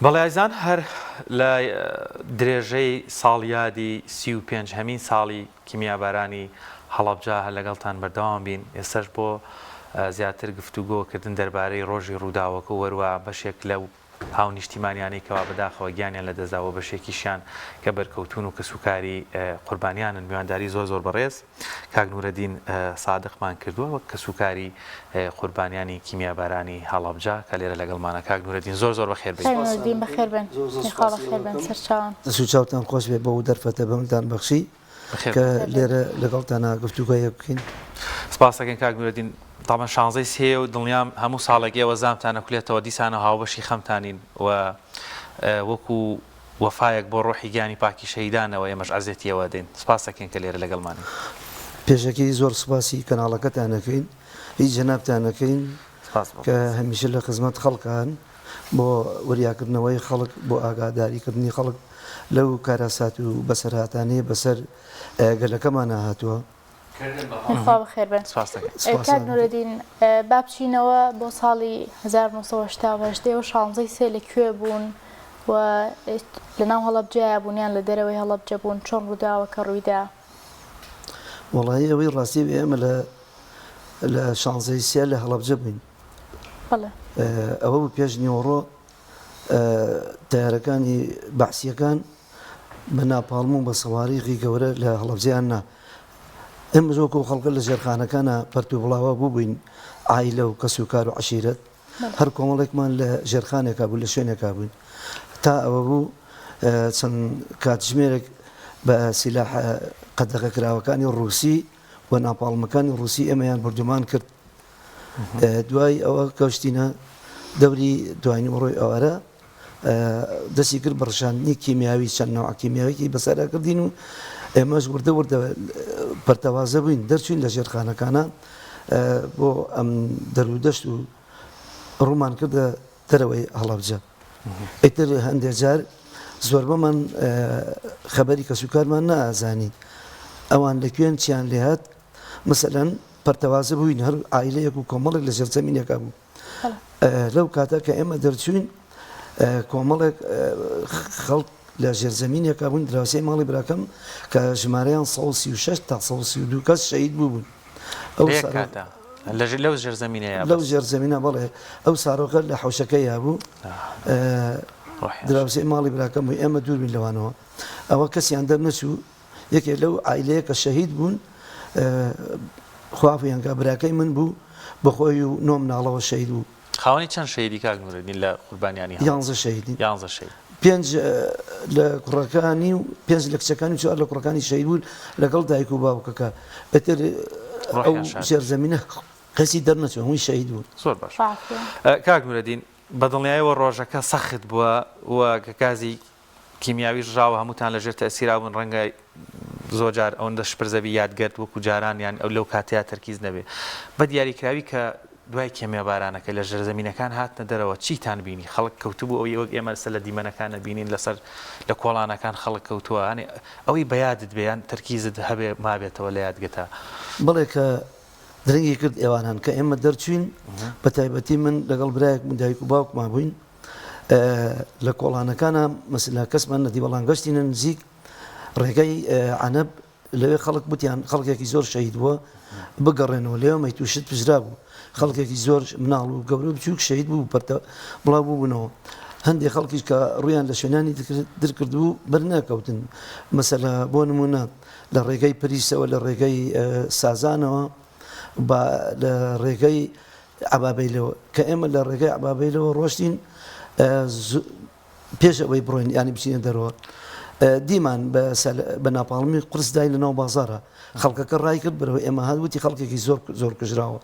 بەڵێ ئەزان هەر لە درێژەی ساڵیادی سی و پێنج هەمین ساڵی کیمیابارانی هەڵەبجە هەر لەگەڵتان بەردەوام بین ئێستەش بۆ زیاتر گفتوگۆ کردن دەربارەی ڕۆژی ڕووداوەکە و هەروەها بەشێک لەو هاونیشتیمانیانەی کەوا بەداخەوە گیانیان لەدەستدا و بەشێکیشیان کە بەرکەوتوون و کەسوکاری قوربانیانن میوانداری زۆر زۆر بەڕێز کاک نورەدین سادقمان کردوە وەک کەسوکاری قوربانیانی کیمیابارانی هەڵەبجە کە لێرە لەگەڵمانە کاک نورەدین زۆر زۆر بەخێر بێی. کاک نورەدین بەخێر بێن یەخوا بەخێر بێن سەرچاوم. دەست و چاوتان خۆش بێت بەو دەرفەتە بەمتان بەخشی کە لێرە لەگەڵتانا گفتوگۆ یەک بکەین. سپاست دەکەین کاک نورەدین تابان شانزەی سێیە و دڵنیام هەموو ساڵێک ئێوە زامتان ئەکولێتەوە دیسانەوە هاوبەشی خەمتانین و وەکو وەفایەک بۆ ڕۆحی گیانی پاکی شەهیدانەوە ئێمەش عەزێتی ئەوە دەین. سپاس دەکەین کە لێرە لەگەڵمانن. پێشەکی زۆر سوپاسی کەناڵەکەتان ئەکەین هی جەنابتان ئەکەین سپاس بۆ کە خۆت. هەمیشە لە خزمەت خەڵکان بۆ وریاکردنەوەی خەڵک بۆ ئاگاداری کردنی خەڵک لەو کارەسات و بەسەرهاتانەی بەسەر گەلەکەمانا هاتوە. خوا بەخێر بێن. سپاس دەکەین. سپاس کاک ئەکەم. نورەدین با بچینەوە بۆ ساڵی هەزار و نۆ سەد و هەشتا و هەشت ئێوە شانزەی سێ لە کوێ بوون و لە ناو هەڵەبجەیا بوون یان لە دەرەوەی هەڵەبجە بوون چۆن ڕووداوەکە ڕوویدا؟ وەڵایی ئەوەی ڕاستی بێ ئێمە لە لە شانزەی سێ لە هەڵەبجە بووین بەڵێ. ئەوە بوو پێش نیوەڕۆ تەیارەکانی بەعسییەکان، بە ناپاڵم و بە سەواریغی گەورە لە هەڵەبجەیان نا. ئێمەش وەکو ئەو خەڵکە لە ژێرخانەکانا پەرت و بڵاوا بووبووین، عایلە و کەس و کار و عەشیرەت، هەر کۆمەڵێکمان لە ژێرخانێکا بوو، لە شوێنێکا بووین. تا ئەوە بوو چەند کاتژمێرێک بە سیلاحە قەدەغەکراوەکانی ڕووسی و ناپاڵمەکانی ڕووسی ئێمەیان بوردومان کرد. دوای ئەوە گەشتینە دەوری دوایینی ئۆڕۆی ئەوارە. دەستی کرد بە ڕشاندنی کیمیاوی چەند نەوعە کیمیاویەکی بەسەردا کردین و ئێمەش وردە وردە پەرتەوازە بووین دەرچوین لە ژێرخانەکانە بۆ ئەم دەرودەشت و ڕوومان کردە دەرەوەی هەڵەبجە ئیتر هەندێک جار زۆربەمان خەبەری کەسوکارمان نازانی ئەوان لە کوێن چیان لێهات مەسەەن پەرتەوازە بووین هەر ئایلەیەک و کۆمەڵێک لە ژێرزەمینەکە بوو لەو کاتە کە ئێمە دەرچوین کۆمەڵێک خەڵک لە ژێرزەمینێکە بوون دراوسی ماڵی براکەم کە ژمارەیان 16 تا 12 کەس شەید بوو بوون ئەو لەژر لەو ژێرزەمینە لەو ژێرزەمینە بڵێ ئەو سارۆکە لە حوشەکە یابوو دراوسی ماڵی براکەم بوو ئێمە دووربین لەوانەوە ئەوە کەسیان دەرنەچوو یەکێک لەو عایلەیە کە شەهید بوون خوا عەفویانکا براکەی من بوو بەخۆی و نۆ مناڵەوە شەهید بوو. خاوەنی چەند شەهیدی کاک نورەدین لە قوربانیانی هەڵەبجە؟ یانزە شەهیدین. یانزە شەهید. پێنج لە کوڕەکانی و پێنج لە کچەکانی و چوار لە کوڕەکانی شەهید بوون لەگەڵ دایک و باوکەکە. ئیتر ئەو ژێرزەمینە کەسی دەرنەچوو هەمووی شەهید بوون. زۆر باش. کاک نورەدین بە دڵنیایەوە ڕۆژەکە سەخت بووە و کە کازی کیمیاوی ڕژاوە هەمووتان لەژێر تەئسیرا بوون ڕەنگە زۆر جار ئەوەندە شپرزە بی یادگەت وەکو جاران یان ئەو لەو کاتەیا تەرکیز نەبێ بە دیاری کراوی کە دوای کێمیا بارانەکە لە ژێرزەمینەکان هاتنە دەرەوە چیتان بینی خەڵک کەوتبوو ئەوی وەک ئێمە لەسەر لە دیمەنەکان نەبینین لەسەر لە کۆڵانەکان خەڵک کەوتووە یانێ ئەوی بە یادت بێ یان تەرکیزت هەبێ مابێتەوە لە یادگەتا. بەڵێ کە درەنگی کرد ئێواران کە ئێمە دەرچووین بە تایبەتی من لەگەڵ برایەکم و دایک و باوکما بووین، لە کۆڵانەکانا مەسلا کەسمان نەدی بەڵام گەشتینە نزیک ڕێگەی عەنەب لەوێ خەڵک بوتیان خەڵکێکی زۆر شەید بووە بگەڕێنەوە لێو مەیت و شت پزرا بوو خەڵکێکی زۆر مناڵ و گەورە بچووک شەید بوو پەرتە بڵاو بووبوونەوە هەندێک خەڵکیش کە ڕویان لە شوێنانی درکردبوو بەرناکەوتن مەسەلا بۆ نمونە لە ڕێگەی پریسەوە لە ڕێگەی سازانەوە با لە ڕێگەی عەبابەیلەوە، کە ئێمە لە ڕێگەی عەبابەیلەوە ڕۆشتین پێش ئەوەی بڕۆین یانی بچینە دەرەوە دیمان بە ناپاڵمی قرس دای لە ناو بازارە خەڵکەکە ڕای کرد بەرەوە ئێمە هاات وتی خەڵکێکی زۆر زۆر کوژراوە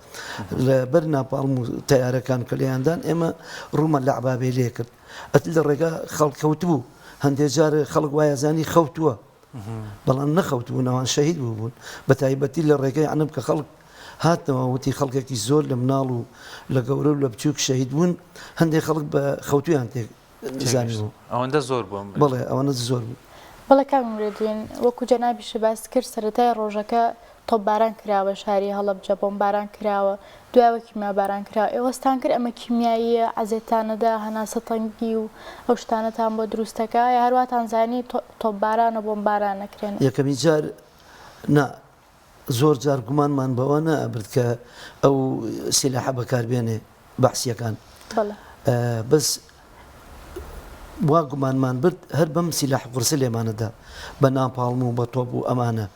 لە بەر ناپاڵم و تیارەکان کە لێیاندان ئێمە ڕوومە لە عبابێ لێ کرد ئەت لە ڕێگا خەڵکەوت بوو هەندێک جار خەڵک وایە زانی خەوتووە بەڵام نەخەوتبوون ئەوان شەهید بووبوون بە تایبەتی لە ڕێگەی عنب کە خەڵک هاتنەوە وتی خەڵکێکی زۆر لە مناڵ و لە گەورە و لە بچووک شەهید بوون هەندێک خەڵک بە خەوتوویان تێک زانی بوو ئەوەندە زۆر بووم بڵێ ئەوەنە زۆر بوو. بەڵێ کاک نورەدین، وەکو جەنابیشت باست کرد سەرەتای ڕۆژەکە تۆپباران کراوە شاری هەڵەبجە بۆمباران کراوە دوایەوە کیمیاباران کراوە ئێوە ستانکرد ئەمە کیمیاییە عەزێتتان نەدا هەناسە تەنگی و ئەو شتانەتان بۆ دروست دەکا یا هەر واتان زانی تۆپبارانە بۆمباران نەکرێنە. یەکەمین جار نا زۆر جار گومانمان بەوە نەئەبرد کە ئەو سیلاحە بەکار بێنێ بەعسییەکان بەڵێ بەس وا گومانمان برد هەر بەم سیلاح قورسە لێمانە دا بە ناپاڵم و بە تۆپ و ئەمانە.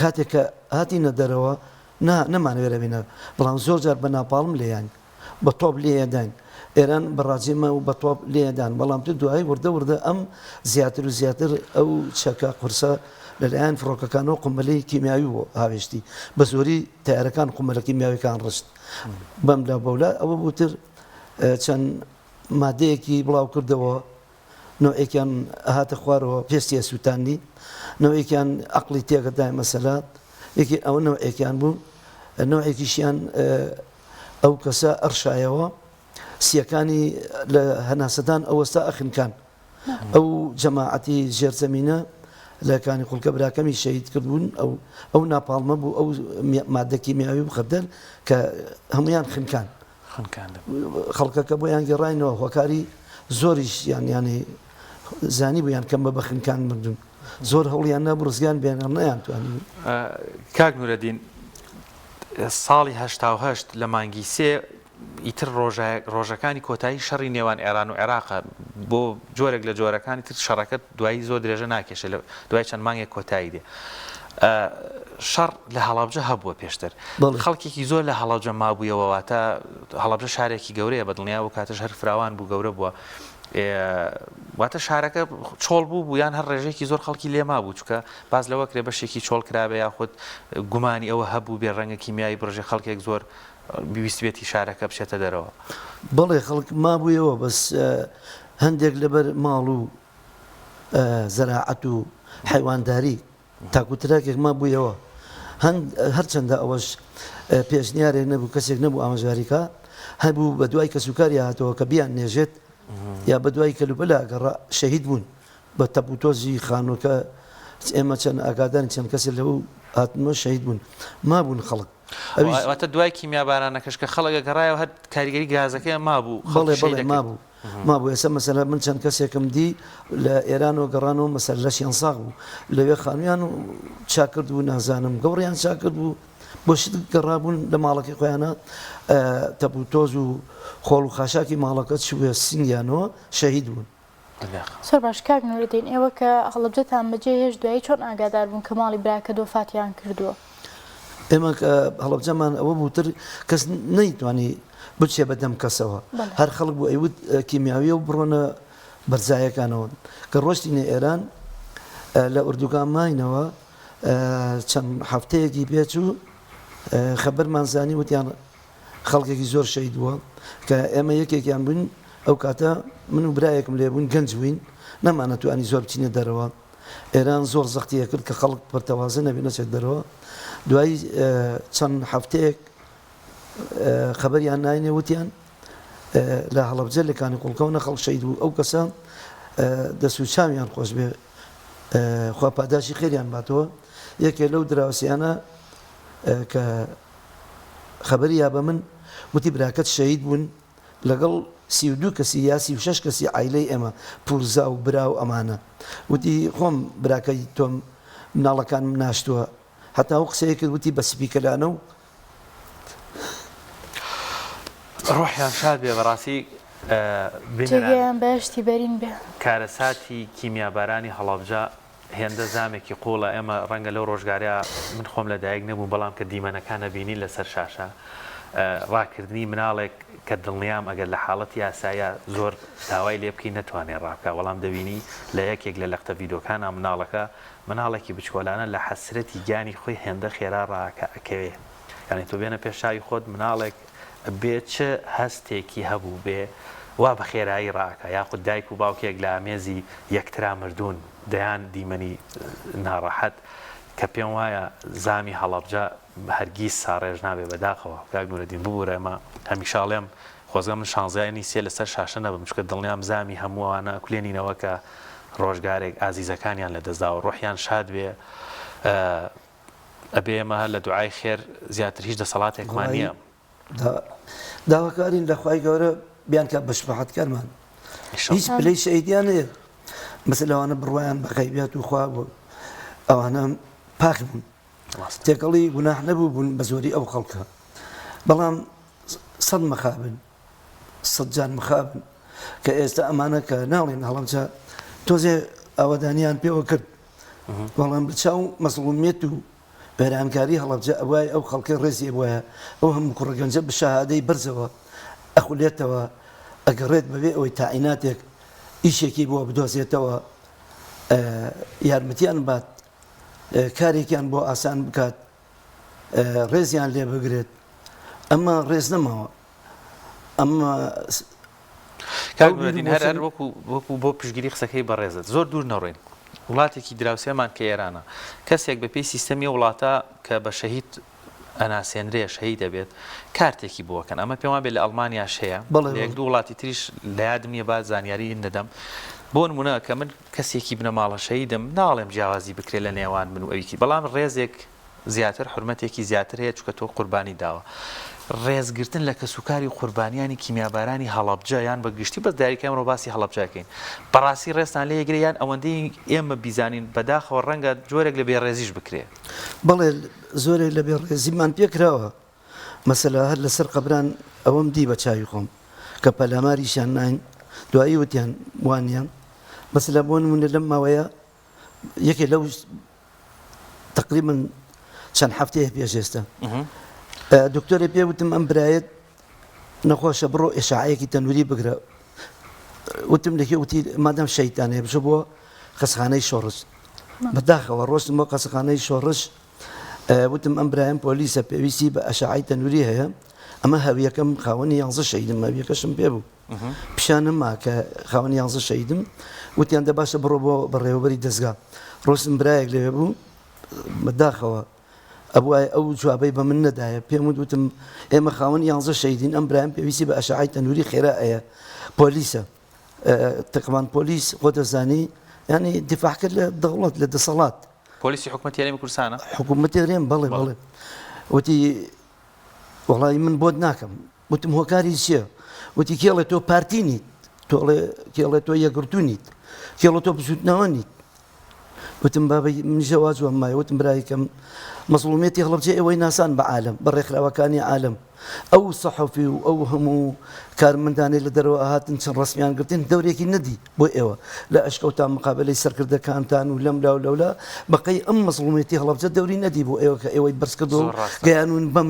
کاتێک کە هاتینە دەرەوە نا نەمانەوێت لە بینەر بەڵام زۆر جار بە ناپاڵم لێیان بە تۆپ لێداین ئێران بەڕاجێمە و بە تۆپ لێدان بەڵام تو دوایی وردە وردە ئەم زیاتر و زیاتر ئەو چەکە قورسە لەلایەن فڕۆکەکانەوە قمەلی کیمیاوی بۆ هاوێشتی بە زۆری تارەکان قمەلە کیمیاویەکان ڕشت بەم لە بەولا ئەوە بوتر چەند مادەیەکی بڵاو کردەوە نەوعێکیان ئەهاتە خوارەوە پێستی ئەسووتاندی، نەوعێکیان عەقڵی تێکردایە مەسەلە، یەکێ ئەوە نەوعێکیان بوو، نەوعێکیشیان ئەو کەسە ئەڕشایەوە سییەکانی لە هەناسەدان ئەوەستا ئەخنکان. ئەو جەماعەتی ژێرزەمینە لە کانی قوڵکە براکەمی شەهید کردبوون، ئەو ئەو ناپاڵمە بوو ئەو ماددە کیمیاوی و خەردەل کە هەموویان خنکان. خنکاندن. خەڵکەکە بۆیان گێڕاینەوە هۆکاری زۆریش یان یانی زانی بوویان کەم بە بەخنکان مردون زۆر هەوڵیان نەبوو ڕزگان بێنەر نیان توانی کاک نورەدین ساڵی هەشتاهشت لە مانگی سێ ئیتر ڕۆژەکانی کۆتایی شەڕی نێوان ئێران و عێراقە بۆ جۆرێک لە جۆرەکانی تر شەڕەکە دوایی زۆر درێژە ناکێشە لە دوای چەند مانگێک کۆتایی دێ شەڕ لە هەڵەبجە هەبووە پێشتر خەڵکێکی زۆر لە هەڵەبجە مابوویەوە واتە هەڵەبجە شارێکی گەورەیە بە دڵنیا و کاتەش هەر فراوان بوو گەورە بووە واتە شارەکە چۆڵ بوو بوو یان هەر ڕێژێکی زۆر خەڵکی لێما بوو چکە باز لەوە کرێ بەشێکی چۆڵ کرابێ یاخود گومانی ئەوە هەبوو بێ ڕەنگە کیمیایی بڕژێ خەڵکێک زۆر بیویستێتی شارەکە بچێتە دەرەوە بەڵێ خەڵک مابوویەوە بەس هەندێک لەبەر ماڵ و زەراعەت و حەیوانداری تاکو تراکێک مابوویەوە، هەرچەندە ئەوەش پێشنیارێک نەبوو، کەسێک نەبوو ئامۆژگاریکا، هەبوو بەدوای کەسوکاری هاتەوە کە بیاننێژێت یا بەدوای کەلوپەلا گەڕا، شەهید بوون بە تەپ و تۆزی خانووەکە، ئێمە چەند ئاگادارین چەند کەسێک لەو هاتنەوە شەهید بوون، مابوون خەڵک. واتە دوای کیمیابارانەکەش کە خەڵک گەڕایەوە هەر کاریگەری گازەکەیان مابوو، خەڵک شەهید ئەکرد. بەڵێ بەڵێ مابوو، مابوو ئێستا مەسەلە من چەند کەسێکم دی لە ئێرانەوە گەڕانەوە مەسەلە لەشیان ساغ بوو لەوێ خانویان و چاکرد بوو نازانم گەوڕیان چاکرد بوو بۆ شت گەڕابوون لە ماڵەکەی خۆیانە تەپوتۆز و خۆڵ و خاشاکی ماڵەکە چوێ سنگیانەوە شەهید بوون سەر باش کاک نوردین ئێوە کە هەڵبجەتان بەجێ هێش دوایی چۆن ئاگادار بوون کە ماڵی براکە دۆفاتیان کردووە ئێمە کە هەڵەبجەمان ئەوە بوو تر کەس نەیتوانی بچێ بە دەم کەسەوە هەر خەڵک بوو ئەیوت کیمیاویە و بڕۆنە بەرزایەکانەوە کە ڕۆشتینە ئێران لە ئوردوگان ماینەوە چەند هەفتەیەکی پێچوو خەبەرمان زانی وتیان خەڵکێکی زۆر شەید بووە کە ئێمە یەکێکیان بووین ئەو کاتە من و برایەکم لێبوون گەنج بووین نەمانەتوانی زۆر بچینە دەرەوە ئێران زۆر زەختی ئەکرد کە خەڵک پەرتەوازە نەبێ نەچێت دەرەوە دوای چەند هەفتەیەک خەبەریان ناینێ وتیان لە هەڵەبجە لە کانی قوڵکەونە خەڵک شەید بوو ئەو کەسە دەست و چاویان خۆش بێ خوا پاداشی خێریان باتەوە یەکێ لەو دراوسیانە کە خەبەری یا بە من وتی براکەت شەید بوون لەگەڵ سی و دوو کەسی یا سی و شەش کەسی عایلەی ئێمە، پورزا و برا و ئەمانە. وتی، خۆم براکەی تۆم، مناڵەکانم ناشتووە. هەتا ئەو قسەی کرد وتی بە سپیکەلانە و. ڕۆحیان شاد بێ بەڕاستی بینەران. جێگایان بەهەشتی بەرین بێ. کارەساتی کیمیابارانی هەڵەبجە هێندە زامێکی قوڵە ئێمە ڕەنگە لەو ڕۆژگارە من خۆم لە دایک نەبووم بەڵام کە دیمەنەکان ئەبینی لەسەر شاشە ڕاکردنی مناڵێک کە دڵنیام ئەگەر لە حاڵەتی یاسایە زۆر داوای لێ بکەی نەتوانێ ڕابکە وەڵام دەبینی لە یەکێک لە لەختە ڤیدۆکانە مناڵەکە مناڵێکی بچکۆلانە لە حەسرەتی گیانی خۆی هێندە خێرا ڕاکە ئەکەوێ یعنی تۆ بێنە پێش چاوی خۆت مناڵێک بێ چ هەستێکی هەبووبێ وا بە خێرایی ڕاکا، یاخود دایک و باوکێک لە ئامێزی یەکترا مردوون، دەیان دیمەنی ناڕەحەت کە پێم وایە زامی هەڵەبجە هەرگیز ساڕێژ نابێ بەداخەوە کاک نورەدین ببورە ئەمە هەمیشە ئەڵێم خۆزگە من شانزیانی سێ لەسەر شاشە نەبم چونکە دڵنیام زامی هەموو ئەوانە ئەکولێنینەوە کە ڕۆژگارێک ئازیزەکانیان لەدەستداوە ڕۆحیان شاد بێ. ئەبێ ئێمە لە دوعای خێر زیاتر هیچ دەسەڵاتێکمان نییە. داواکارین لە خوای گەورە بیانکات بە شەفاعەتکارمان. هیچ پلەی شەهیدیان هەیە. بەس لەوانە بڕوایان بە غەیبیات و خوا بوو. ئەوانە پاک بوون. تێکەڵی گوناح نەبووبوون بە زۆری ئەو خەڵکە. بەڵام سەد مەخابن. سەد جار مخابن کە ئێستا ئەمانە کە ناڵێن هەڵەبجە تۆزێ ئاوادانیان پێوە کرد بەڵام بچاو مەسڵومیت و بەرانکاری هەڵەبجە ئەوای ئەو خەڵکی ڕێزی وایە ئەو هەموو کوڕگەنجە بشەهادەی بەرزەوە ئەخولێتەوە ئەگەڕێت بەوێ ئەوەی تاعیناتێک ئیشێکی بۆ بدۆزێتەوە یارمەتیان بات کارێکیان بۆ ئاسان بکات ڕێزیان لێ بگرێت ئەمە ڕێز نەماوە ئەمە وەکو بۆ پشگیری قسەکەی بەڕێزت زۆر دوور نەڕۆین وڵاتێکی دراوسێمان کە ئێرانە کەسێک بەپی سیستەمی وڵاتە کە بە شەهید ئەناسێنرێ شەهی دەبێت کارتێکی بووەکەن ئەمە پێما بێت لە ئەلمانیا شەیە بڵێ دوو وڵاتی تریش لە یادم نیە با زانیاری دەدەم بۆ نمونە کە من کەسێکی بنەماڵە شەهیدم، ناڵێم جیاوازی بکرێت لە نێوان من و ئەوی تر، بەڵام ڕێزێک زیاتر، حورمەتێکی زیاتر هەیە، چونکە تۆ قوربانیت داوە. ڕێزگرتن لە کەسوکاری قوربانیانی کیمیابارانی هەڵەبجە یان بە گشتی، بەس دیاریکراوی ئەمڕۆ باسی هەڵەبجە ئەکەین، بەڕاستی ڕێزتان لێ ئەگرێ یان ئەوەندەی ئێمە بیزانین، بەداخەوە ڕەنگە جۆرێک لە بێڕێزیش بکرێ. بەڵێ زۆرێک لە بێڕێزیمان پێکراوە، مەسەلە هەر لەسەر قەبران ئەوەم دی بە چاوی خۆم کە پەلاماریشیان ناین دوایی وتیان وانیە مەسەلە بۆ نمونە لەم ماوەیە یەکێ لەو تقریبا چەند هەفتەیە پێش ئێستا دکتۆری پێ وتم ئەم برایەت نەخۆشە بڕۆ ئێشعەیەکی تەنووری بگرە وتم لەکێ وتی مادەم شەیتانێ بشە بۆ قەسخانەی شۆڕش بەداخەوە ڕۆشتم بۆ قەسخانەی شۆڕش وتم ئەم برایم پۆلیسە پێویستی بە ئەشعەی تەنوری هەیە ئەمە هەویەکەم خاوەنی یانزە شەیدم ماویەکەشم پێ بوو پیشانم ما کە خاوەنی یانزە شەیدم وتیان دە باشە بڕۆ بۆ بەڕێوەبەری دەستگا ڕۆسم برایەک لەوێ بوو بەداخەوە ئەوای ئەو جوابەی بە من نەدایە پێم وتم ئێمە خاوەن یانزە شەیدین ئەم برایم پێویستی بە ئەشعای تەنووری خێرا ئەیە پۆلیسە تقمان پۆلیس خۆ دەزانی ینی دیفاحکە لە دەوڵەت لە دەسەڵات پۆلیسی حکومەت یاێمی کورسانە حکوومەت دەێن بەڵێ بەڵێ وتی وڵی من بۆت ناکەم وتم هۆکاری چیە وتی کێڵێ تۆ پارتی نیت تۆڵێ کێڵێ تۆ یەگرتو نیت کێڵە تۆ بزوتنەوە نیت وتم بابە منیشە وا جوابم مایە وتم برای کەم مەزڵومیەتی هەڵەبجەی ئێوەی ناسان بە عالەم بە ڕێکخراوەکانی عالەم ئەو سەحەفی و ئەو هەموو کارمەندانەی لە دەرەوە هاتن چەند ڕەسمیان گرتن دەورێکی نەدی بۆ ئێوە لە ئەشکەوتان مقابەلەی سەرکردەکانتان و لەم لاو لەولا بەقەی ئەم مەزڵومیەتی هەڵەبجە دەوری نەدی بۆ ئێوە کە ئێوەی بەرز کردو گەیانون بەم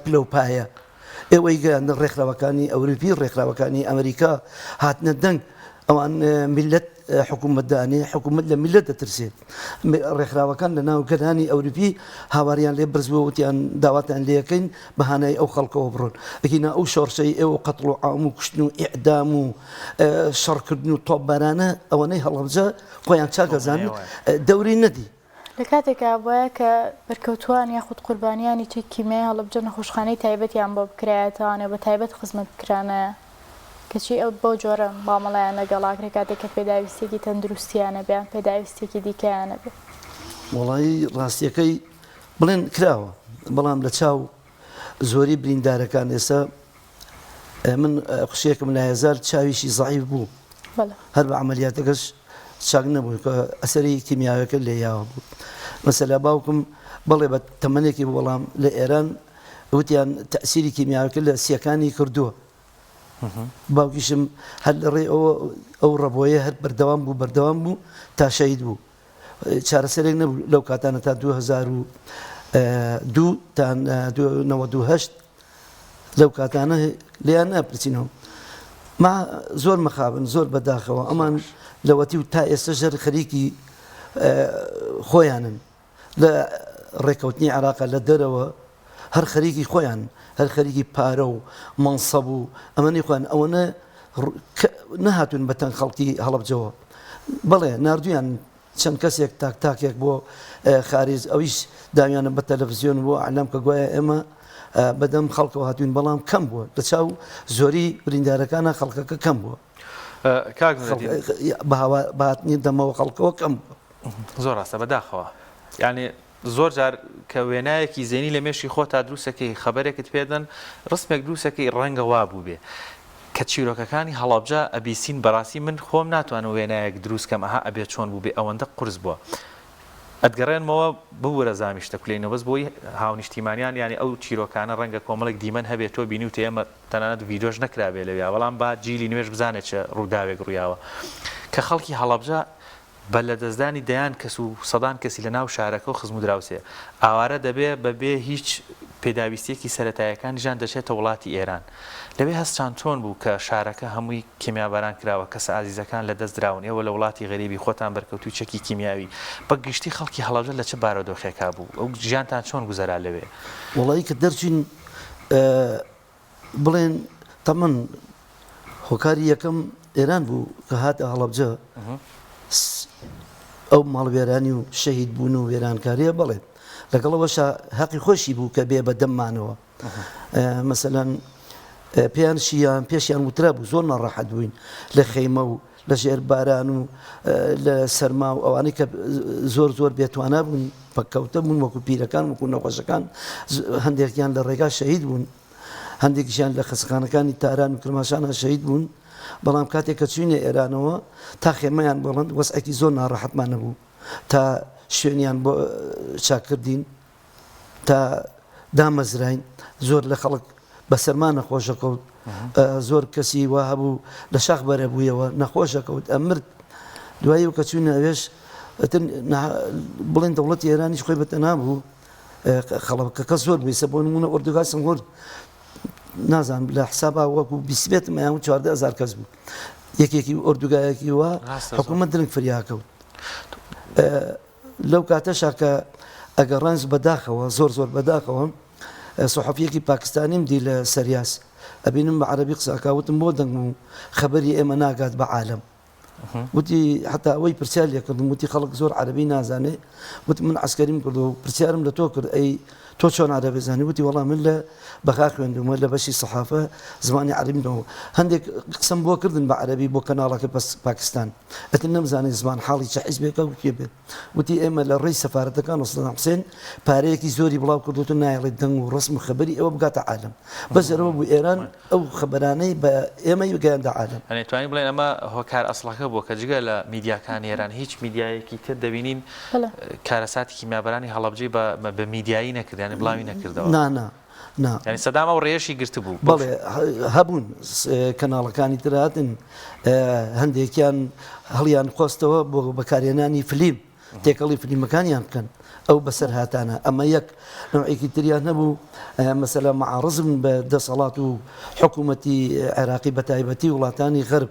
پلە و پایە ئێوەی گەیاندە ڕێکخراوەکانی ئەوروپی ڕێکخراوەکانی ئەمریکا هاتنە دەنگ ئەوان میلەت حکومت دانێ حکومت لە میلەت دەترسێ ڕێکخراوەکان لە ناو گەلانی ئەوروپی هاواریان لێ برزوە وتیان داواتان لەکەین بەهانای ئەو خەڵکەوە بڕۆن ئەگینا ئەو شۆڕشەی ئێوە قەتڵ و عام و کوشتن و ئیعدام و شەڕکردن و تۆپبارانە ئەوەنەی هەڵەبجە خۆیان چاکەزان دەوری نەدی لە کاتێکا بوایە کە بەرکەوتووان یاخود قوربانیانی چەکی کیمیای هەڵەبجە نەخۆشخانەی تایبەتیان بۆ بکرایە تاوانێ بە تایبەت خزمەت بکرانایە کەچی ئەو بەو جۆرە مامەڵەیان لەگەڵ ئاکرێ کاتێک کە پێداویستیەکی تەندروستیانە بێ یان پێداویستیەکی دیکەیانە بێ. وەڵایی ڕاستیەکەی بڵێن کراوە بەڵام لە چاو زۆری بریندارەکان ئێستا من قشێکم لایەزار چاویشی زعیف بوو هەر بە عملیاتەکەش چاک نەبوو کە ئەسەری کیمیاوەکە لێ یاوە بوو مەسەلا باوکم بەڵێ بە تەمەێکی وەڵام لە ئێران وتیان تەسیری کیمیاوەکە لە سیەکانی کردووە باوکیشم هەر لە ڕێ ئەو ڕەبۆیە هەر بەردەوام بوو بەردەوام بوو تا شەید بوو چارەسەرێک نەبوو لەو کاتانە تا دوو هەزار و دوو تا نەوەد و هەشت لەو کاتانە لێیان ناپرسینەوە ما زۆر مەخابن زۆر بەداخەوە ئەمان لەوەتی و تا ئێستا ژەر خەریکی خۆیانن لە ڕێککەوتنی عراقە لە دەرەوە هەر خەریکی خۆیان هەر خەریکی پارە و مەنسەب و ئەمەنی خۆیان ئەوەنە نەهاتون بە تەنگ خەڵکی هەڵبجەوە بەڵێ نردویان چەند کەسێک تاک تاکێک بۆ خارج ئەویش داویانە بە تەلەڤزیۆن بۆ ئەلام کە گوایە ئێمە بەدەم خەڵکەوە هاتوین بەڵام کەم بووە لە چاو زۆری بریندارەکانە خەڵکەکە کەم بووە بەهاتنی دەمەوە خەڵکەوە کەم بووە زۆر ڕاستە بەداخەوە یعنی زۆر جار کە وێنایەکی زەینی لە مێشکی خۆتا دروستەکەی، خەبەرێکت پێدەن، ڕسمێک دروستەکەی، ڕەنگە وا بووبێ کە چیرۆکەکانی هەڵەبجە ئەبیسین، بەڕاستی من خۆم ناتوانم وێنایەک دروست کەم ئەها ئەبێ چۆن بووبێ ئەوەندە قورس بووە. ئەتگەڕێنمەوە ببورە زامی شتە کولەی نۆبەز بۆی هاونیشتیمانیان یانی ئەو چیرۆکانە ڕەنگە کۆمەڵێک دیمەن هەبێ تۆ بینیوتە ئێمە تەنانەت ڤیدۆش نەکرابێ لەویا بەڵام با جیلی نوێش بزانێ چ ڕووداوێک ڕویاوە کە خەڵکی هەڵەبجە بە لەدەستدانی دەیان کەس و سەدان کەسی لە ناو شارەکە و خزم و دراوسێ ئاوارە دەبێ، بە بێ هیچ پێداویستییەکی سەرەتاییەکانی ژیان دەچێتە وڵاتی ئێران. لەوێ هەستتان چۆن بوو کە شارەکە هەمووی کێمیاباران کراوە، کەسە ئازیزەکان لە دەست دراون، ئێوە لە وڵاتی غەریبی خۆتان بەرکەوتووی چەکی کیمیاوی، بە گشتی خەڵکی هەڵەبجە لە چ بارۆدۆخێکا بوو و ژیانتان چۆن گوزەرا لەوێ؟ وەڵایی کە دەرچووین، بڵێن تەمەن هۆکاری یەکەم ئێران بوو کە هاتە هەڵەبجە ئەو ماڵوێرانی و شەهید بوون و وێرانکاریە بڵێ لەگەڵەوەشە هەقی خۆشی بوو کە بێ بە دەممانەوە مەسەەن پێیان شیان پێشیان وترا بوو زۆر ناڕەحەت بووین لە خەیمە و لە ژێر باران و لە سەرما و ئەوانەی کە زۆر زۆر بێتوانا بوون پەککەوتە بوون وەکو پیرەکان وەکو نەخۆشەکان هەندێکیان لە ڕێگا شەهید بوون هەندێکیشیان لە خەسخانەکانی تاران و کرماشانە شەهید بوون بەڵام کاتێک کە چوینە ئێرانەوە تا خێمەیان بەڵند وەسعێکی زۆر ناڕەحەتمان نەبوو تا شوێنیان بۆ چاکردین تا دامەزراین زۆر لە خەڵک بەسەرما نەخۆش دەکەوت زۆر کەسی وا هەبوو لە شاخ بەرە بوویەوە نەخۆش دەکەوت ئەمرد دوایی و کە چووی ناوێش بڵێن دەوڵەتی ئێرانیش خۆی بەتەنا بوو خەڵکەکە زۆر بێسە بۆ نمونە ئۆردوگای سنگۆر نازانم لە حسابا وەکو بیسبێت مەیان چواردە هزار کەس بوو یەکێکی ئۆردوگایەکی وە حکوومەت درنگ فریاکەوت لەو کاتەشا کە ئەگەڕانس بە داخەوە زۆر زۆر بە داخەوە سوحەفیەکی پاکستانیم دی لە سەریاس ئەبینم بە عەرەبی قسە ئەکا وتم بۆ دەنگم و خەبەری ئێمە ناگات بە عالەم وتی حتا ئەوەی پرسیار لێ کردم وتی خەڵک زۆر عەربی نازانێ وت من عسکەریم کرد و پرسیارم لە تۆ کرد ئەی تۆ چۆن عربی زانی وتی وەڵام من لە بەغا خوێندومە لە بەشی سەحافە زمانی عربیمەوە هەندێک قسم بۆ کردن بە عەربی بۆ کەناڵەکە پاکستان ئیتر نەمزانی زمانحاڵی چ حیزبێکە و کێ بێت. گوتی ئێمە لە ڕێی سەفارەتەکان و سەدام حوسێن پارەیەکی زۆری بڵاو کردووەتەوە نایەڵێت دەنگ و ڕەسم و خەبەری ئێوە بگاتە عالەم. بەس جەرەوە بوو ئێران ئەو خەبەرانەی بە ئێمەی گەیاندە عالەم. یانی توانین بڵێین ئەمە هۆکار ئەسڵەکە بووە کە جگە لە میدیاکانی ئێران هیچ میدیایەکی تر دەبینین کارەساتی کیمیابەرانی هەڵەبجەی بە میدیایی نەکرد یانی بڵاوی نەکردەوە؟ نا نا. نا. یانی سەدام ئەو ڕێیەشی گرتبوو. بەڵێ هەبوون کەناڵەکانی تر هاتن هەندێکیان هەڵیان قۆستەوە بۆ بەکارهێنانی فلیم تێکەڵی فلیمەکانیان بکەن ئەو بەسەرهاتانە ئەمە یەک نوعێکی تریان نەبوو مەسەلا معارزم بە دەسەڵات و حکوومەتی عێراقی بە تایبەتی وڵاتانی غەرب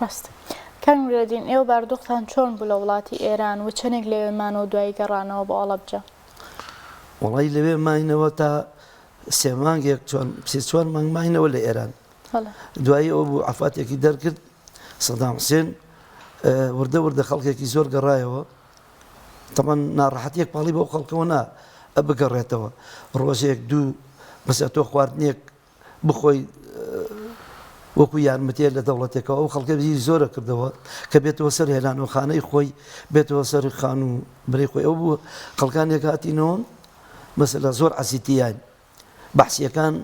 ڕاستە. کاک نورەدین ئێوە باردوقتان چۆن بوو لە وڵاتی ئێران و چەنێک لەوێ مانەوە دوایی گەڕانەوە بۆ ئەڵەبجە؟ وەڵایی لەوێ ماینەوە تا سێ مانگێک چۆن سێ چوار مانگ ماینەوە لە ئێران بەڵێ. دوایی ئەوە بوو عەفاتێکی دەرکرد سەدام حسێن وردە وردە خەڵکێکی زۆر گەڕایەوە تەمان ناڕەحەتیەک پاڵی بەو خەڵکەوە نا بگەڕێتەوە ڕۆژێک دوو بەسە تۆ خواردنێک بخۆی وەکو یارمەتیە لە دەوڵەتێکەوە ئەو خەڵکە بیری زۆرە کردەوە کە بێتەوە سەر هێلانەوە خانەی خۆی بێتەوە سەر خان و برەی خۆی ئەو بووە خەڵکانێک هاتینەوە مەسەلا زۆر عزیتیان بەحسیەکان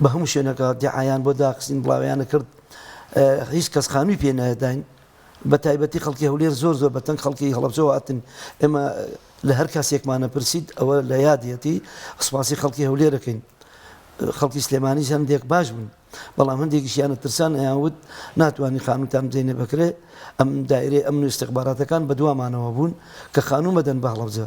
بە هەموو شوێنەکە دیعایان بۆ داخستین بڵاویانە کرد هیچ کەس خانووی پێ نایداین بە تایبەتی خەڵکی هەولێر زۆر زۆر بە تەنگ خەڵکی هەڵەبجەوە هاتن ئێمە لە هەر کاسێکمانە پرسید ئەوە لە یادیەتی سپاسی خەڵکی هەولێرەکەین خەڵکی سلێمانی هەندێک باش بوون بەڵام هەندێکیشیانە ترسان ئەیانوت ناتوانانی خانوتان بزینە بکرێ ئەم دایرێ ئەم استخباراتەکان بە دوامانەوە بوون کە خانوو مەدەن بە هەڵەبجە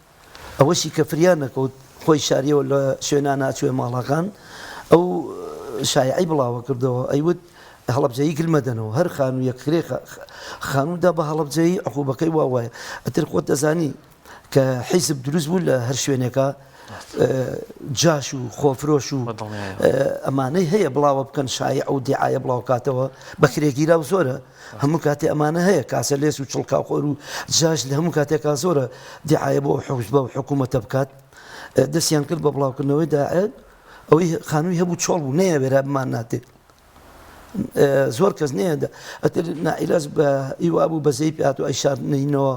ئەوەشی کە فریا نەکەوت خۆی شاریەوە لە شوێنا ناچوێ ماڵاکان ئەو شایعی بڵاوە کردەوە ئەیوت هەڵەبجەیی گل مەدەنەوە هەر خانوویەک کرێ خانوودا بە هەڵەبجەیی عقوبەکەی وا وایە ئەتر خۆت دەزانی کە حیزب دروست بوو لە هەر شوێنێکە جاش و خۆفرۆش و ئەمانەی هەیە بڵاوە بکەن شایع و دیعاە بڵاوکاتەوە بەکرێگیرا و زۆرە هەموو کاتێ ئەمانە هەیە کاسە لێس و چڵکاو خۆر و جاش لە هەموو کاتێکا زۆرە دیعاە بۆ حوز بە و حکوومەتە بکات دەستیان کرد بە بڵاوکردنەوەی داعێت ئەوەی خانووی هەبوو چۆڵ بوو نەیە وێرا بمان ناتێت زۆر کەس نێدا ئەتر نائیلاز بە ئیوا بوو بەزەی پات و ئەیشارنینەوە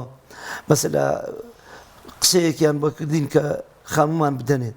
بەس لە قسەیەکیان بەکردین کە خانومان بدەنێت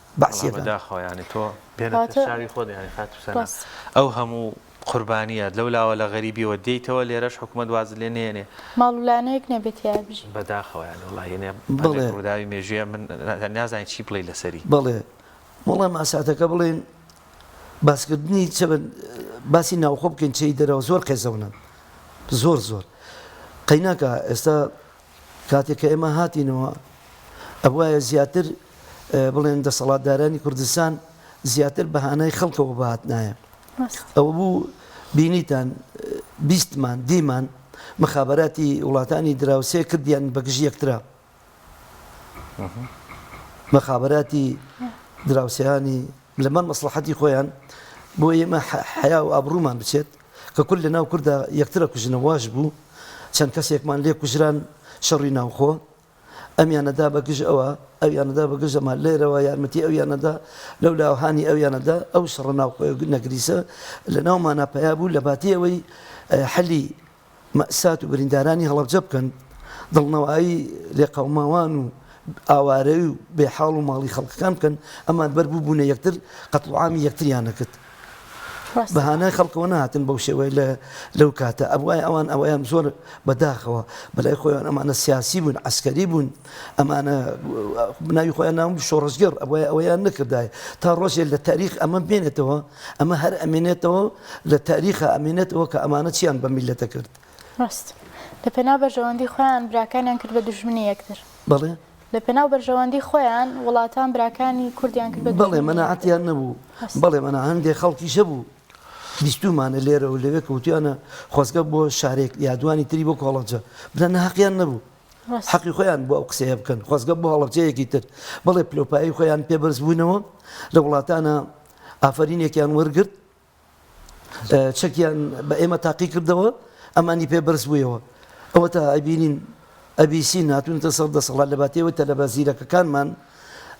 بەعسیەکان. بەڵا بەداخەوە یانی تۆ بێنەتە چاوی خۆت یانی خاتوو سەنا ئەو هەموو قوربانیەت لەو لاوە لە غەریبیەوە دێیتەوە لێرەش حکومەت وازت لێ نێنێ ماڵ و لانەیەک نەبێ تیا بژی. بەداخەوە یانی وەڵا یەنێ بەڵێ. ڕوداوی مێژویە من نازانی چی بڵێی لەسەری. بەڵێ وەڵا ماساتەکە بڵێن باسکردنی چەبن باسی ناوخۆ بکەین چێی دەرەوە زۆر قێزەونن زۆر زۆر قەیناکا ئێستا کاتێک کە ئێمە هاتینەوە ئەبوایە زیاتر بڵێن دەسەڵاتدارانی کوردستان زیاتر بەهانای خەڵکەوە بهاتنایە ئەوە بوو بینیتان بیستمان دیمان مخابراتی وڵاتانی دراوسێ کردیان بەگژ یەکترا مخابراتی دراوسیانی لەمەر مەسلحەتی خۆیان بۆ ئێمە حیا و ئابرومان بچێت کە کورد لەناو کوردا یەکتر ئەکوژنە واش بوو چەند کەسێکمان لێ کوژران شەڕی ناوخۆ ئەمیانە دا بە گژ ئەوە ئەویانە دا بە گژ ئەمە لێرەوە یارمەتی ئەویانە دا لەولا هانی ئەویانە دا ئەو شەڕە ناوخۆ نەگریسە لەناومانا پەیا بوو لە باتی ئەوەی حەلی مەئسات و بریندارانی هەڵەبجە بکەن، دڵنەوایی لێقەوماوان و ئاوارەی و بێ حاڵ و ماڵی خەڵکەکان بکەن، ئەمان بەر بووبوونە یەکتر قەتڵوعامی یەکتریان ئەکرد، بەهانای خەڵکەوە نەهاتن بەو شێوەیە لە لەو کاتە ئەبوایە ئەوان ئەوەیان زۆر بە داخەوە بەلای خۆیان ئەمانە سیاسی بوون عەسکەری بوون ئەمانە ناوی خۆیان ناون شۆڕشگێڕ ئەبوایە ئەوەیان نەکردایە تا ڕۆژێ لە تاریخ ئەمە بمێنێتەوە ئەمە هەر ئەمێنێتەوە لە تاریخا ئەمێنێتەوە کە ئەمانە چیان بەم میللەتە کرد. ڕاست. لە پێناو بەرژەوەندی خۆیان براکانیان کرد بە دوژمنی یەکتر. بەڵێ. لە پێناو بەرژەوەندی خۆیان وڵاتان براکانی کوردیان کرد بە دوژمنی یەکتر. بەڵێ مەناعەتیان نەبوو. بەڵێ مەنا هەندێ خەڵکیش هەبوو بیستوومانە لێرە و لەوێ کە وتویانە خۆزگە بۆ شارێک یا دوانی تری بۆ کۆڵەبجە بدەن هەقیان نەبوو. حەقی خۆیان بوو ئەو قسەیە بکەن خۆزگە بۆ هەڵەبجەیەکی تر. بەڵێ پلەوپایەی خۆیان پێ بەرز بوونەوە لە وڵاتانە. ئافەرینێکیان وەرگرت چەکیان بە ئێمە تاقی کردەوە ئەمانی پێ بەرز بوویەوە ئەوەتا ئەبینین ئەبیسی ناتونتە سەر دەسەڵات لە باتێوە تەلەبە زیرەکەکانمان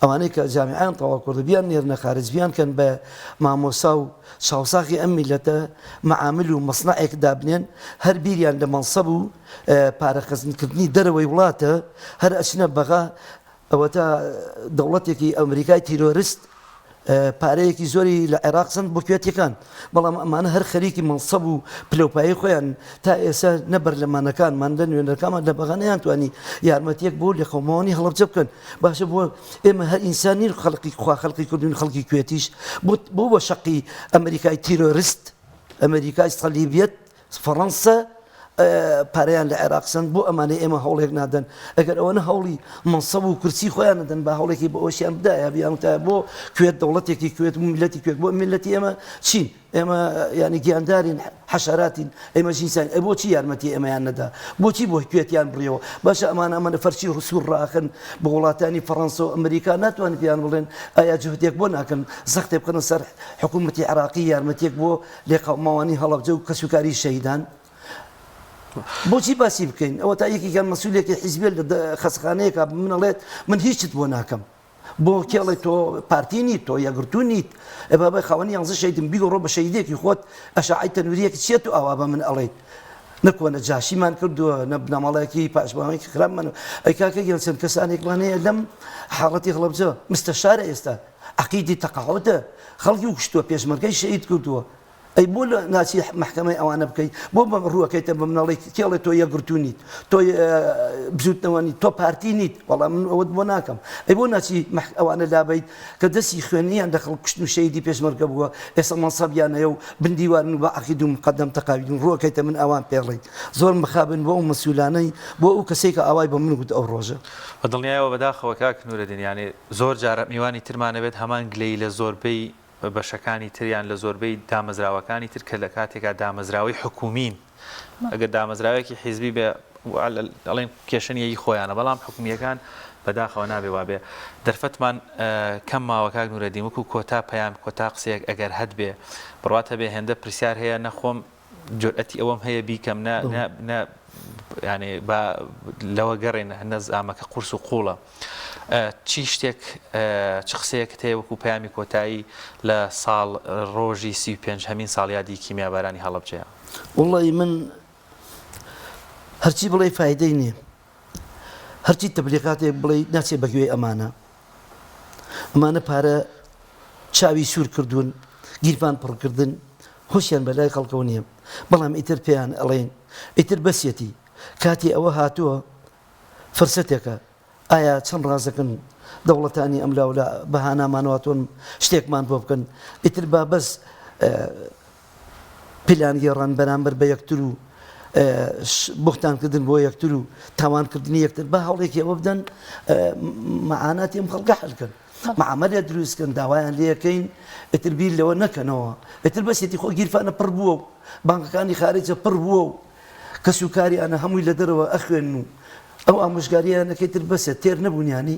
ئەوانەی کە جامیان تەوا کوردە بیان نێرنە خارج بیان کەن بە مامۆسا و چاوساخی ئەم میلەتە معامل و مەسنائێک دابنێن هەر بیریان لە مەنسەب و پارەخەزنکردنی دەرەوەی وڵاتە هەر ئەچنە بەغا ئەوەتا دەوڵەتێکی ئەمریکای تیرۆرست پارەیەکی زۆری لە عێراق سەند بۆ کوێتیەکان بەڵام ئەمانە هەر خەریکی مەنسەب و پلەپایی خۆیان تا ئێستا نە بەرلەمانەکانمان لە نوێنەرەکانمان لە بەغا نەیانتوانی یارمەتیەک بۆ لە قەوماوانی هەڵەبجە بکەن باشە بۆ ئێمە هەر ئینسان نین خەڵقی خوا خەڵقی کردوین خەڵکی کوێتیش بۆ بە شەقی ئەمریکای تیرۆرست ئەمریکای سەلیبیەت فەڕەنسا پارەیان لە عێراق سەند بۆ ئەمانەی ئێمە هەوڵێک نادەن ئەگەر ئەوەنە هەوڵی مەنسەب و کورسی خۆیان نەدەن با هەوڵێکی بۆ ئەوەشیان بدایە بیان وتایە بۆ کوێت دەوڵەتێکی کوێت و میلەتی کوێت بۆ میلەتی ئێمە چین ئێمە یانی گیاندارین حەشاراتین ئێمە جینسان ئە بۆچی یارمەتی ئێمەیان نەدا بۆچی بۆ کوێتیان بڕیەوە باشە ئەمان ئەمەە فەرچی ڕسوور ڕاخن بە وڵاتانی فەڕەنسا و ئەمریکا ناتوان بیان بڵێن ئایا جهدێک بۆ ناکەن زەختێ بکەنە سەر حکوومەتی عراقی یارمەتێک بۆ لێقەوماوانی هەڵەبجە و کەسوکاری شەهیدان بۆچی باسی بکەین ئەوەتا یەکێکیان مەسولێکی حیزبێ لە خەسخانەیەکا من ئەڵێت من هیچت بۆ ناکەم بۆ کێڵێ تۆ پارتی نیت تۆ یەگرتو نیت ئە بابای خاوەنی یانزە شەیدم بیگەڕۆ بە شەیدێکی خۆت ئەشعی تەنوریەکی چیە تو ئاوا بە من ئەڵێیت نەکۆنە جاشیمان کردووە نە بنەماڵایەکی پاشماوەیەکی خراپمان ئەی کاکە گیان چەند کەسانێکمان هەیە لەم حاڵەتی هەڵەبجە مستەشارە ئێستا عەقیدی تەقەعودە خەڵکی کوشتوە پێشمەرگەی شەهید کردوە ئەی بۆ ناچی محکمەی ئەوانە بکەی بۆ ڕوەکەیتە بە مناڵی کێڵێ تۆ یەکگرتو نیت تۆ بزوتنەوە نیت تۆ پارتی نیت وەڵام من ئەوەت بۆ ناکەم ئەی بۆ ناچی ئەوانە لابیت کە دەستی خوێنیان لە خەڵک کوشتن و شەهیدی پێشمەرگە بووە ئێستا مەنسەبیانەیە و بندیوارن و بە عقید و مقدم تەقاویدون ڕوەکەیتە من ئەوان پێڵێیت زۆر مخابن بۆ ئەو مەسولانەی بۆ ئەو کەسێکە ئاوای بە من گوت ئەو ڕۆژە بە دڵنیایەوە بەداخەوە کاک نورەدین یانی زۆر جار میوانی ترمان نەبێت هەمان گلەیی لە زۆربەی بەشەکانی تر یان لە زۆربەی دامەزراوەکانی تر کە لە کاتێکا دامەزراوەی حکوومین ئەگەر دامەزراوەیەکی حیزبی بێ ئەڵێن کێشە نیە ی خۆیانە بەڵام حکوومییەکان بەداخەوە نابێ وابێ دەرفەتمان کەم ماوە کاک نورەدین وەکو کۆتا پەیام کۆتا قسەیەک ئەگەر هەت بێ بڕوات هەبێ هێندە پرسیار هەیە نەخۆم جورئەتی ئەوەم هەیە بیکەم نا نا نا یانێ با لەوە گەڕێن نەزامە کە قورس و قوڵە چی شتێک چ قسەیەک هەیە وەکو پامی کۆتایی لە ساڵ ڕۆژی سی پێنج هەمین ساڵیادی کیمیابارانی هەڵبجەیە وڵی من هەرچی بڵێ فیدەی نیە هەرچی تبلیغاتێ بڵێ ناچێ بەگوێ ئەمانە ئەمانە پارە چاوی سوور کردوون گیرفان پڕ کردن هۆشیان بەلای خەڵکەوە نیە بەڵام ئیتر پێیان ئەڵێین ئیتر بەسیەتی کاتی ئەوە هاتووە فرسەتێکە ئایا چەند ڕازەکن دەوڵەتانی ئەملاولا بەهانامانەوە تۆن شتێکمان بۆ بکەن ئیتر با بەس پلانگێڕان بەرامبەر بە یەکتر و بوختانکردن بۆ یەکتر و تاوانکردنی یەکتر با هەوڵێکی ئەوە بدەن معاناتی ئەم خەڵکە حل کەن معاملە دروستکەن داوایان لەکەین ئتر بیر لەوە نەکەنەوە ئتر بەسێتی خۆ گیرفانە پڕ بووە و بانکەکانی خارجە پڕ بووە و کەس و کاریانە هەمووی لە دەرەوە ئەخوێن و ئەو ئامۆژگاریانەکەی تر بەسێت تێر نەبوونیانی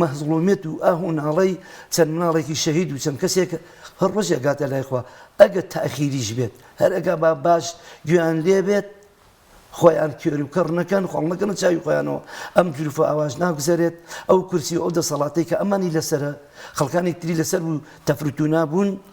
مەهزڵومیەت و ئاه و ناڵەی چەند مناڵێکی شەهید و چەند کەسێک هەر ڕۆژێ ئەگاتە لای خوا ئەگەر تاخیریش بێت هەر ئەگا با باش گوێیان لێ بێت خۆیان کێر و کەڕ نەکەن خۆڵ نەکەنە چاوی خۆیانەوە ئەم جروفە ئاواش ناگوزەرێت ئەو کورسی و ئەو دەسەڵاتەی کە ئەمانی لەسەرە خەڵکانی تری لەسەر بوو تەفروتونا بوون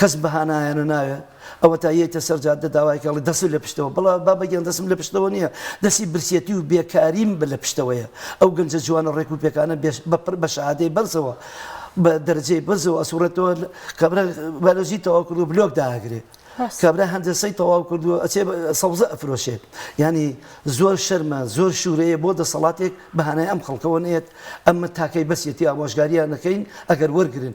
کەس بە هانایانە نایێ، ئەوەتا یەیتە سەر جادە داوایەکە ئەڵێ دەسم لە پشتەوە، بڵا بابە گیان دەسم لە پشتەوە نییە، دەسی برسیەتی و بێکاریم بە لە پشتەوەیە، ئەو گەنجە جوانە ڕێک و پێکانە بێ بە بە شەهادەی بەرزەوە بە دەرەجەی بەرزەوە ئەسوڕێتەوە کابرا بایلۆجی تەواو کردووە بلۆک داگرێ ڕاستە کابرا هەندەسەی تەواو کردووە ئەچێ بە سەوزە ئەفرۆشێ یانی زۆر شەرمە زۆر شوورەیە بۆ دەسەڵاتێک بە هانای ئەم خەڵکەوە نێت ئەمە تاکەی بەسیەتی ئامۆژگارییان نەکەین ئەگەر وەرگرن